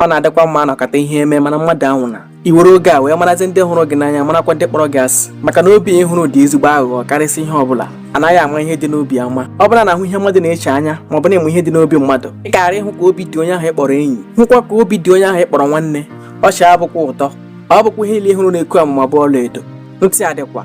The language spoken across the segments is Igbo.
ọ na-adịkwa mma anọkata ihe eme mana mmadụ anwụna e were oge a wee marazi ndị hụrụ gị n'anya marakwa ndị kpọrọ gị asị maka na obi a ị hụrụ dị ezigbo aghụghọ karịsịa ihe ọbụla anaghị ama ihe dị n'obi ama ọ bụ na a na-ahụ ihe mmadụ na-eche anya ma ọ bụ na ị ma ihe dị n'obi mmadụ ị gaara ịhụ ka obi dị onye ahụ ị kpọrọ enyi hụkwa ka obi dị onye ahụ ị kpọrọ nwanne ọchị abụkwa ụtọ ọ bụkwa ihe ile ị hụrụ na-egbu amụma bụ ọla edo ntị adịkwa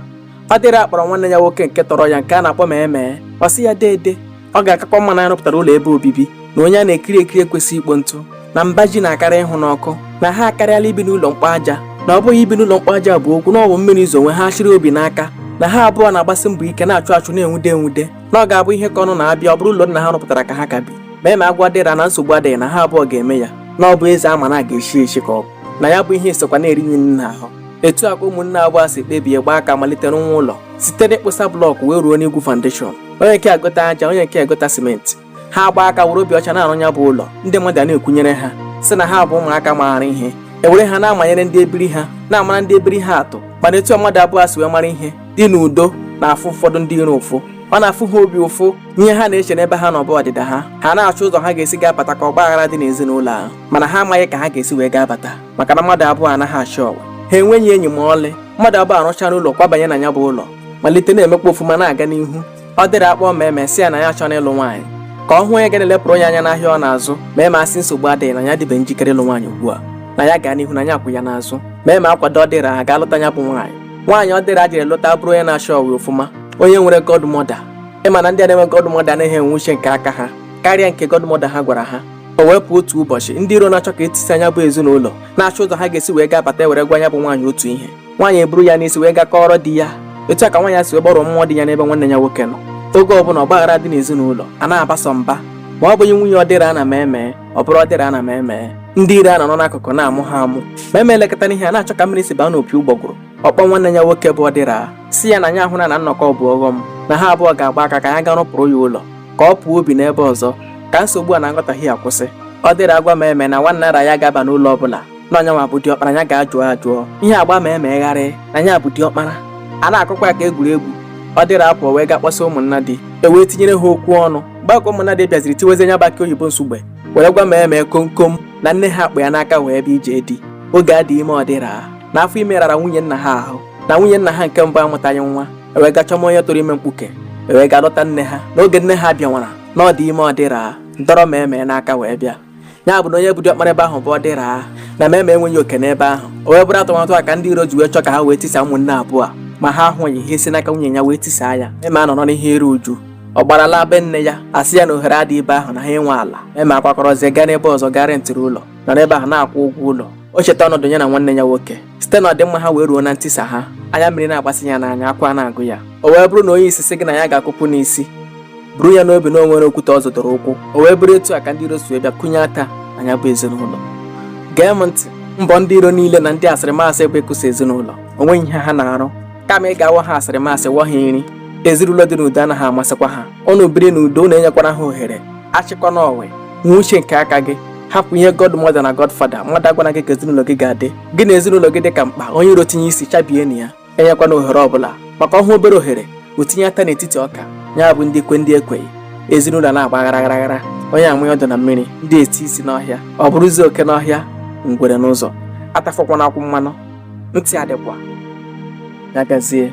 ọdịra akpọrọ nwanne ya nwoke nke tọrọ ya nke a na-akpọ maeme ọ sị ya deede ọ ga-akakwa mma na anyị rụpụtara ụlọ ebe obibi na onye a na-ekiri ekiri ekwesị ikpo ntụ na mba ji na-akarị ịhụ n'ọkụ na ha akarịala ibi n'ụlọ mkpọ aja na ọ bụghị ibi n'ụlọ mkpọ aja bụ okwu na ọ bụ mmiri zowe ha chịrị obi n'aka na ha abụọ na-agbasi mbọ ike na-achụ achụ na-enwude enwude na ọ ga-abụ ihe ịkọ ọnụ na a bịa ọ bụrụ ụlọ nna ha rụpụtara ka ha ka bi maeme agwa ọdịra na nsogbu adịghị na ha abụọ ga-eme ya na ọ bụ eze a ma na a ga-echi echi ka ọ bụ na ya bụ ihe esokwa na-eri nya n'ahụ etu a ka ụmụnne abụọ a si kpebie gbaa aka malite rụwa ụlọ site n'ịkpụsa blọkụ wee ruo n'igwu foundation onye nke a gota aja onye nke a gota simenti ha agba aka were obi ọcha na-arụ ya bụ ụlọ ndị mmadụ na-ekwunyere ha sị na ha bụ ụmụaka maara ihe e were ha na-amanyere ndị ebiri ha na-amara ndị ebiri ha atụ mana etu mmadụ abụọ a si wee mara ihe dị n'udo na-afụ ụfọdụ ndị iro ụfụ ọ na-afụ ha obi ụfụ ihe ha na-eche n'ebe ha nọ bụ ọdịda ha ha na-achọ ụzọ ha ga-esi gaa bata ka ọgba aghara dị n'ezinụlọ ahụ mana ha amaghị ka ha ga-esi wee gaa bata maka na mmadụ abụọ anaghị achị ọwa ha enweghị enyi ma ọlị mmadụ abụọ a rụchara ụlọ kwabanye na ya bụ ụlọ malite na-emekwa ofuma na-aga n'ihu ọdịra akpọọ maeme sị ya na ya chọrọ ịlụ nwaanyị ka ọ hụ onye ga na-elepụrụ nya anya n'ahịa ọ na-azụ maeme asị nsogbu adịghị na ya dịbe njikere ịlụ nwaanyị ugbu a na ya gaa n'ihu na ya kwụ ya n'azụ maeme akwado ọdịra ha gaa lụta ya bụ nwaanyị nwaanyị ọdịra jere lụta bụrụ onye na-achọ ọwa ofuma onye nwere godmother ị ma na ndị a na-enwe godmother anaghị enwe uche nke aka ha karịa nke godmother ha gwara ha o wee pụọ otu ụbọchị ndị iro na-achọ ka e tisa nya bụ ezinụlọ na-achọ ụzọ ha ga-esi wee gaa bata were gwa nya bụ nwaanyị otu ihe nwaanyị eburu ya n'isi wee gaa kọọrọ di ya etu a ka nwaanyị a si wee gbarụọ mmụọ di ya n'ebe nwanne ya nwoke nọ oge ọbụla ọgbaghara adị n'ezinụlọ a na-abasọ mba ma ọ bụghị nwunye ọdịra na maeme ọ bụrụ ọdịra na maeme ndị iro a nọ n'akụkụ na-amụ ha amụ maeme elekọta n'ihe a na-achọ ka mmiri si baa n'opi ụgbọgụrụ ọ kpọọ nwanne ya nwoke bụ ọdịra sị ya na nya ahụna na nnọkọ bụ ọghọm na ha abụọ ga-agba aka ka ya gaa rụpụrụ ya ụlọ ka ọ pụọ bie n'ebe ọzọ ka nsogbu a na nghọtahie a kwụsị ọdịra agwa maeme na nwanna ara ya ga-aba n'ụlọ ọ bụla na ọ nyanwa bụ diọkpara ya gaa jụọ ajụọ ihe agba maeme gharịị na ya bụ diọkpara a na-akọkwa ya ka egwuregwu ọdịra apụọ wee gaa kpọsa ụmụnnadi e wee tinyere ha okwu ọnụ gbakọ ụmụnnadi bịaziri tiwezi nya bụ akị oyibo nsugbe were gwa maeme komkom na nne ha kpụ ya n'aka wee bịa ije di oge adịghị ime ọdịra n'afọ ime rara nwunye nna ha ahụ na nwunye nna ha nke mbụ amụtaghị nwa ewee ga chọma onye tụrụ ime mkpuke ewee ga lụta nne ha n'oge nne ha bịanwara na ọ dị ime ọdịra dọrọ ma emee n'aka wee bịa ya bụ na onye bụ diọkpara ebe ahụ bụ ọdịra na ma eme enweghị oke n'ebe ahụ o wee bụrụ atụmatụ a ka ndị iro ji wee chọ ka ha wee tisa ụmụnne abụọ a ma ha ahụghị ha esi n'aka nwunye ya wee tisaa ya eme anọrọ n'ihe iru uju ọ gbarala be nne ya asị ya na ohere adịghị ebe ahụ na ha enwe ala eme akwakọrọzie gaa n'ebe ọzọ ga rentịrị ụlọ nọ n'ebe ahụ na-akwụ ụgwọ ụlọ o cheta ọnọdụ ya na nwanne ya nwoke site na ọdịmma ha wee ruo na ntisa ha anya mmiri na-agbasị ya n'anya akwa na-agụ ya o wee bụrụ na onye isi sị gị na ya ga-akụpụ n'isi buru ya n'obi na o nwere okwute ọ zọdoro ụkwụ o wee bụrụ etu a ka ndị iro si wee bịa kụnye ata na ya bụ ezinụlọ gee m ntị mbọ ndị iro niile na ndị asịrịmasị bụ ịkụsa ezinụlọ o nweghị ihe ha na-arụ kama ị ga-awọ ha asịrịmasị wọ ha nri ezinụlọ dị n'udo anaghị amasịkwa ha unu biri n'udo unu enyekwala ha ohere achịkwana onwe nwee uche nke aka gị hapụ ihe god mother na god father mmadụ agwana gị ka ezinụlọ gị ga-adị gị na ezinụlọ gị dị ka mkpa onye iro tinye isi chabienụ ya enyekwana ohere ọbụla maka ọ hụ obere ohere o tinye ata n'etiti ọka ya bụ ndị kwe ndị ekweghị ezinụlọ na-agba aghara aghara onye amụghị ọdụ na mmiri ndị eti isi n'ọhịa ọ bụrụzi oke n'ọhịa ngwere n'ụzọ atafọkwana akwụ mmanụ ntị adịkwa ya gazie